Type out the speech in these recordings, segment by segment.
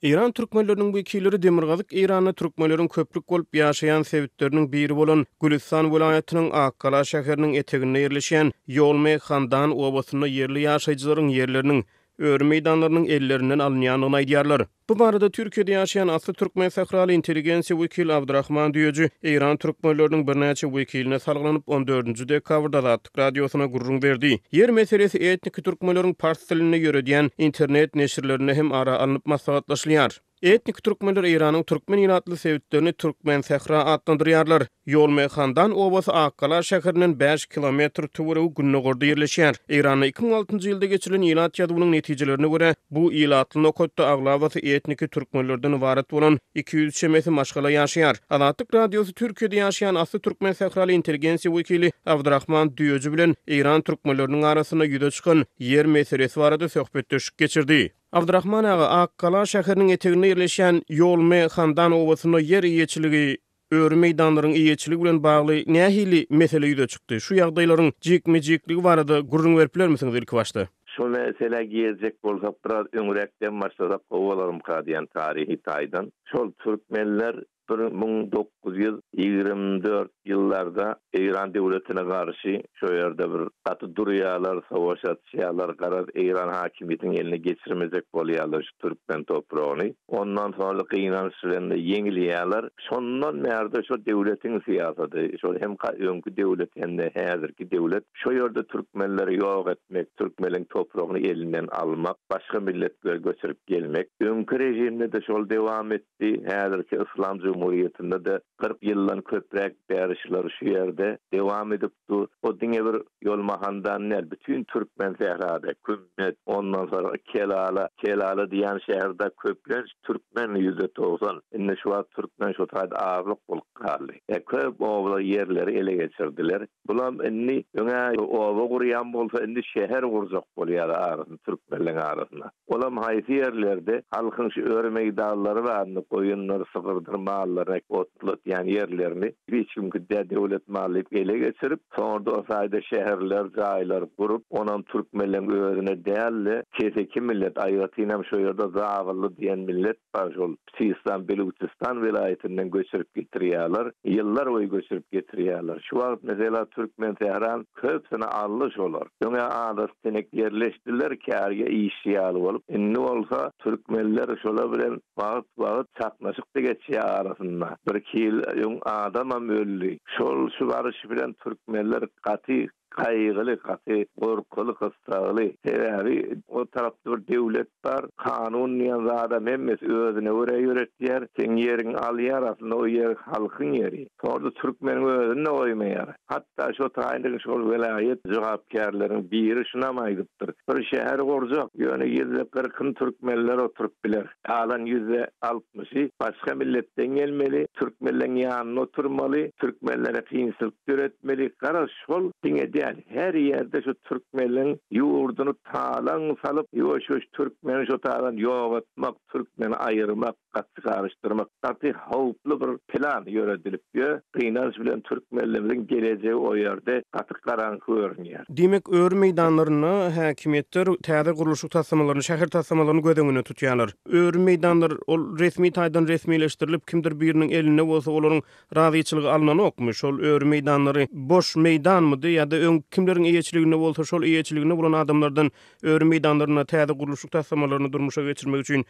Eýran türkmenleriniň wekilleri Demirgazyk Eýranda türkmenleriň köplük bolup ýaşaýan sebitleriniň biri bolan Gülüstan welaýatynyň Akgala şäheriniň eteginde ýerleşýän Ýolme Handan obasynda ýerli ýaşaýjylaryň ýerleriniň, öri meýdanlarynyň ellerinden alynýandygyny aýdýarlar. Bu barada Türkiýede ýaşaýan asly türkmen sähraly intelligensiýa wekili Abdurahman Düýeji Eýran türkmenleriniň birnäçe wekiline salgylanyp, on dördünji dekabrda Azat. azatlyk radiosyna gürrüň berdi. Ýer meselesi etniki türkmenleriň pars dilinde ýöredýän internet neşirlerinde hem ara alnyp maslahatlaşylýar. Etniki türkmenler Eýranyň türkmen ilatly sebitlerini Türkmensähra atlandyrýarlar. Ýolmeýhandan obasy Akgala şäherinden bäş kilometr töweregi gündogarda ýerleşýär. Eýranda iki müň altynjy ýylda geçirilen ilat ýazuwynyň netijelerine görä, Bu ilatly nokatda aglabasy etniki türkmenlerden ybarat bolan iki ýüz çemesi maşgala ýaşaýar. Azatlyk Radiosy Türkiýede ýaşaýan asly türkmen sähraly intelligensiýa wekili Abdyrahman Düýeji bilen eýran türkmenleriniň arasynda ýüze çykan ýer meselesi barada söhbetdeşlik geçirdi. Abdyrahman aga, Akgala şäheriniň eteginde ýerleşýän Ýolme Handan obasynda ýer eýeçiligi Öri meýdanlaryň eýeçiligi bilen bagly nähili mesele ýüze çykdy? Şu ýagdaýlaryň jikme-jikligi barada gürrüň berip bilermisiňiz ilkibaşda? Şol meselä girjek bolsak, biraz öňräkden başlasak gowy bolarmyka diýýän taryhy taýdan. Şol türkmenler bir müň dokuz ýüz ýigrimi dört ýyllarda Eýran döwletine garşy Şo ýerde bir gaty durýalar, sowaş atýalar, garaz Eýran hakimiýetiniň eline geçirmejek bolýalar şu türkmen topragyny. Ondan soňra gynanç bilen-de ýeňilýäler. Şondan bärde şo döwletiň syýasaty, şol hem öňki döwlet hem-de häzirki döwlet şo ýerde türkmenleri ýok etmek, türkmeliň topragyny elinden almak, başga milletleri göçürip gelmek. Öňki režimde-de şol dowam etdi, häzirki Yslam jumhuriýetinde-de Kyrk ýyldan köpräk bäri şular şu ýerde dewam edip dur. Bu diňe bir ýol Mahandan däl, bütin türkmen sährada, Kümmet, ondan soraky Kelala, Kelala diýýän şäherde köplenç türkmen ýüzde togsan. Indi şu wagt türkmen şu taýda azlyk bolup galdy. Ýa köp obalar ýerleri ele geçirdiler. Bulam indi öňä oba gurýan bolsa, indi şäher gurjak bolýar arasyny türkmenleň arasyna. Olam haýsy ýerlerde halkyň şu öri meýdanlary barynda goýundyr, sygyrdyr mallaryny otlatýan ýerlerini hiç kimki dä döwlet maly diýip ele geçirip, soňra-da o taýda şäherler, jaýlar gurup, onam türkmenleň özüne däl-de, keseki millet, aýratynam şo ýerde zabylly diýen millet bar, şol. Sistan Belujistan welaýatyndan göçürip getirýärler. Ýyllar boýy göçürip getirýärler. Şu wagt mesela Türkmensähran köpsini aldy şolar. Öňe adat sinek ýerleşdiler kärge işçi ýaly bolup. Indi bolsa türkmenler şolar bilen wagt wagt çaknaşykda geçýär arasynda. Birki ýyl öň adamam öldi. Şol şu baryş bilen türkmenler gaty Kaýgyly, gaty gorkuly, gyssagly. Sebäbi o tarapda bir döwlet bar. Kanun diýen zadam hemmesi özüne görä ýöretýär. Seň ýeriňi alýar, aslynda o ýer halkyň ýeri. Soňra-da türkmeniň özüni-de goýmaýar. Hatda şo taýynlygyň şol welaýat jogapkärleriniň biri şunam aýdypdyr, Bir şäher gurjak, ýöne ýüzde kyrkyny türkmenler oturyp biler. Galan ýüzde altmyşy başga milletden gelmeli, türkmenleriň ýanynda oturmaly, türkmenlere kynçylyk döretmeli, garaz şol diňe däl, her ýerde şu türkmenleriň ýurduny talaň salyp, ýuwaş-ýuwaş türkmeni şo taýdan ýok etmek, türkmeni aýyrmak, gaty garyşdyrmak. Gaty howply bir plan ýöredilip ýör. Gynanç bilen türkmenlimiziň gelejegi o ýerde gaty garaňky görünýär. Diýmek, öri meýdanlarynda häkimiýetler täze gurluşyk taslamalaryny, şäher taslamalaryny göz öňünde tutýarlar. Öri meýdanlar, ol resmi taýdan resmileşdirilip, kimdir biriniň elinde bolsa, olaryň razyçylygy alnanokmy? Şol öri meýdanlary boş meýdanmydy ýa-da öň kimleriň eýeçiliginde bolsa, şol eýeçiliginde bolan adamlardan Öri meýdanlarynda täze gurluşyk taslamalaryny durmuşa geçirmek üçin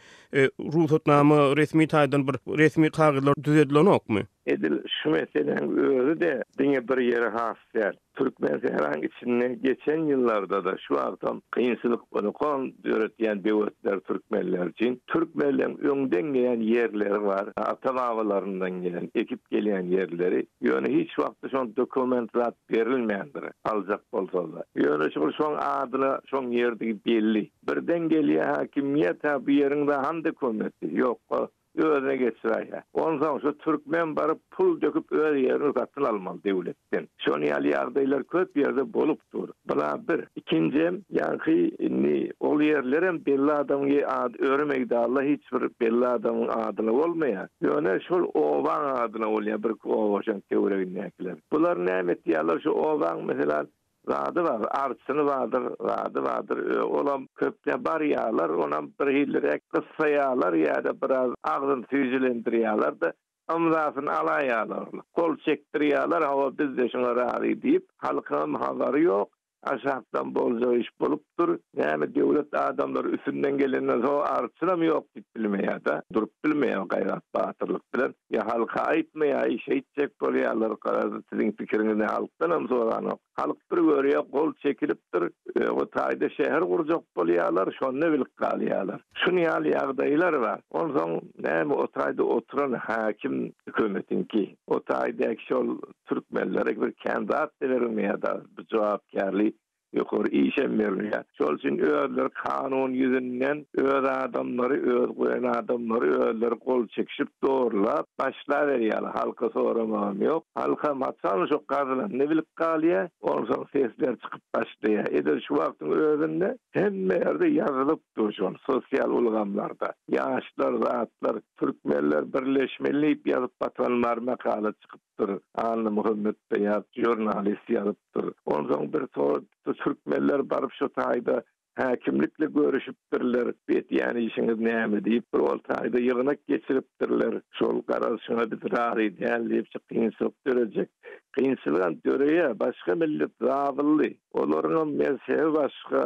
rugsatnama resmi taýdan bir resmi kagyzlar düzedilenokmy? Edil şu meseläň özi-de diňe bir ýere has däl. Türkmensähraň içinde geçen ýyllarda-da, şu wagtam kynçylyk ony-kon döretýän böwetler türkmenler üçin. Türkmenleň öňden gelýän ýerleri bar, ata-babalaryndan gelen, ekip gelýän ýerleri. Ýöne hiç wagtda şol dokument zat berilmändir, aljak bolsalar-da. Ýöne şol şoň adyna şoň ýerdigi belli. Birden gelýär häkimiýet-hä bu ýeriň-de hany dokumenty? Ýok-a, özüne geçiräýýär. Onsoň şu türkmen baryp pul döküp öz ýerini satyn almaly döwletden. Şony ýaly ýagdaýlar köp ýerde bolup dur. Bula bir. Ikinjem, ýaňky indi ol ýerlerem belli adamyň ady, öri meýdalla hiç bir belli adamyň adyna bolmaýar. Ýöne şol obaň adyna bolýar birki oba şoň töweregindäkiler. Bular näme etýärler şu obaň meselem zady bar, arçyny bardyr, zady bardyr, olam köpde barýarlar, onam birhiliräk gyssaýarlar ýa-da biraz agzyny süýjülendirýärler-de, ymzasyny alaýarlar, gol çekdirýärler, hawa biz-de şuňa razy diýip, halkyňam habary ýok, Aşakdan boljak iş bolupdyr. Näme döwlet adamlary üstünden gelenden soň arçynam ýok diýip bilmeýärda. Durup bilmeýär gaýrat batyrlyk bilen. Ýa halka aýtmaýaý şeýtjek bolýarlar garaz siziň pikiriňizi halkdanam soranok. Halk bir görýä gol çekilipdir. Öňe taýda şäher gurjak bolýarlar şonda bilip galýarlar. Şun ýaly ýagdaýlar bar. Onsoň näme o taýda oturan häkim hökümetiňki. O taýdäki şol türkmenlere bir kän zat-da berilmeýär dagy, bir jogapkärli ýokary işem berilmeýär. Şol üçin özleri kanun ýüzünden öz adamlary, öz goýan adamlary özleri gol çekişip zorlap başlaberýärler. Halka soramagam ýok. Halkam haçan şo gazylanyny bilip galýar, onsoň sesler çykyp başlaýar. Edil şu wagtyň özünde hemme ýerde ýazylyp dur şol sosial ulgamlarda. Ýaşlar zatlar Türkmenler birleşmeli diýip ýazyp batanlar makala çykypdyr. Anna Muhammetbeýat žurnalist ýazypdyr. Onsoň bir sorapdyr, Türkmenler baryp şo taýda häkimlikle görüşipdirler, bu etýän işiňiz näme diýip, bir ol taýda ýygnak geçiripdirler, şol garalyşyňa biz razy däl diýip, şu kynçylyk dörejek. Kynçylygam döreýär, başga millet zablly, olaryňam mezhebi başga,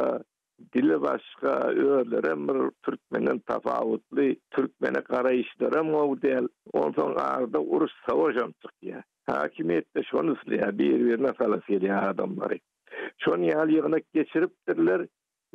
Dili başga, özlerem bir türkmenden tapawutly, türkmene garaýyşlaram gowy däl. Onsoň arda uruş, savaşam çykýar. Häkimiýetde şony isleýär, bir-birine salasy gelýär adamlary. Şon ýaly ýygnak geçiripdirler.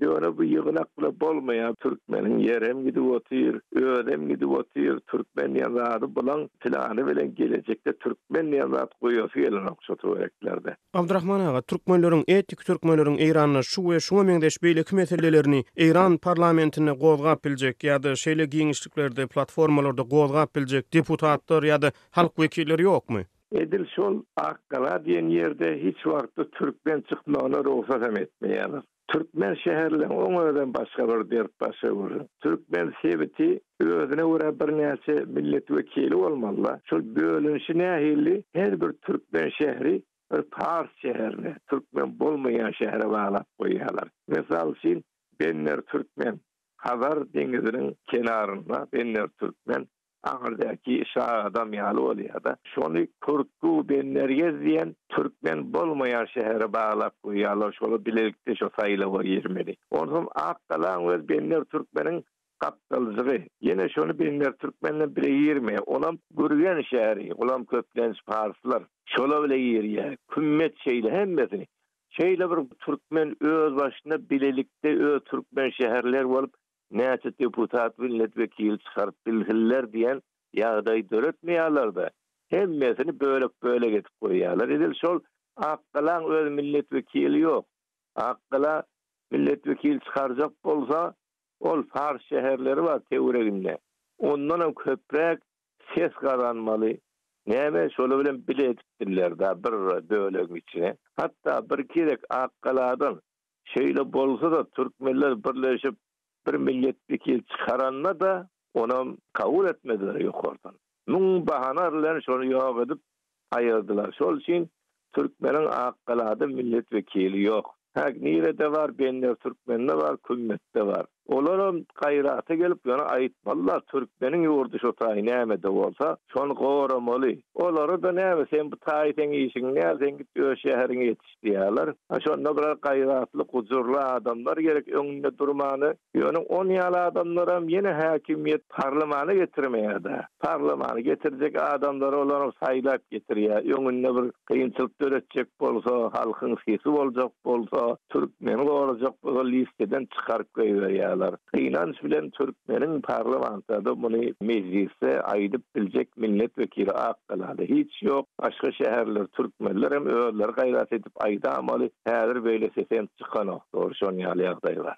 Ýöne bu ýygnak bile bolmaýar. Türkmeniň ýerem gidip otyr, özem gidip otyr. Türkmen diýen zady bulaň, pylany bilen gelejekde türkmen diýen zat goýasy gelenok şu töwereklerde. Abdurahman aga, türkmenleriň, etnik türkmenleriň Eýranda şu we şuňa meňzeş beýleki meselelerini Eýran parlamentinde gozgap biljek ýa-da şeýle giňişliklerde, platformalarda gozgap biljek deputatlar ýa-da halk wekilleri ýokmy? Edil şol Akgala diýen ýerde hiç wagtda türkmen çykmagyna rugsat hem etmeýärler. Türkmen şäherlerini oň özem başga bir dert baş öwürdi. Türkmen sebiti özüne görä birnäçe millet wekili bolmalyda, şol bölünişi nähilli her bir türkmen şäheri bir pars şäherine, türkmen bolmaýan şähere baglap goýýarlar. Mysal üçin Benner türkmen, Hazar deňiziniň kenarynda Benner türkmen. Aňyrdäki şa adam ýaly bolýar-da. Şony Turku Benmergez diýen türkmen bolmaýan şähere baglap goýýarlar, şolar bilelikde şo saýlawa girmeli. Onsoň Akgalaň öz Benmer türkmeniň gapdaljygy. Ýene şony Benmer türkmen bilen bile girmeýär. Onam Gürgen şäheri, olam köplenç parslar. Şolar bile girýär. Kümmet şeýle hemmesini. Şeýle bir türkmen özbaşyna bilelikde öz türkmen şäherleri bolup näçe deputat millet wekili çykaryp bilsinler diýen ýagdaý döretmeýärlerde hemmesini bölek bölek edip goýýarlar edil şol akgalaň öz millet wekili ýok akgala millet wekili çykarjak bolsa ol fars şäherleri bar töwreginde ondanam köpräk ses gazanmaly näme şoly bilen bile edipdirler da bir bölegiň içine hatda bir gezek akgaladan Şeýle bolsa-da, türkmenler birleşip bir millet wekil çykaranda-da, onam kabul etmediler ýokardan. Müň bahana bilen şony ýok edip aýyrdylar. Şol üçin türkmeniň Akgalada millet wekili ýok. Hä, nirede bar? Bender türkmeninde bar, Kümmetde bar. Olaram gaýrata gelip ýöne aýtmalylar türkmeniň ýurdy şu taý nämede bolsa şony goramaly. Olara-da näme sen bu taý seň işiň däl sen git öz şäheriňe ýetiş diýerler. A şonda bular gaýratly gujurly adamlar gerek öňünde durmany. Ýöne on ýaly adamlaram ýene häkimiýet parlamana getirmeýärda. Parlamana getirjek adamlary olaram saýlap getirýär. Öňünde bir Kynçylyk döretjek bolsa, halkyň sesi boljak bolsa, türkmeni gorajak bolsa listeden çykaryp goýberýärler. Gynanç bilen türkmeniň parlamentada muny mejlisde aýdyp biljek millet wekili ak galada hiç ýok. Başga şäherler türkmenler hem özleri gaýrat edip aýdamaly. Häzir beýle sesem çykanok. Dogry şon ýaly ýagdaý bar.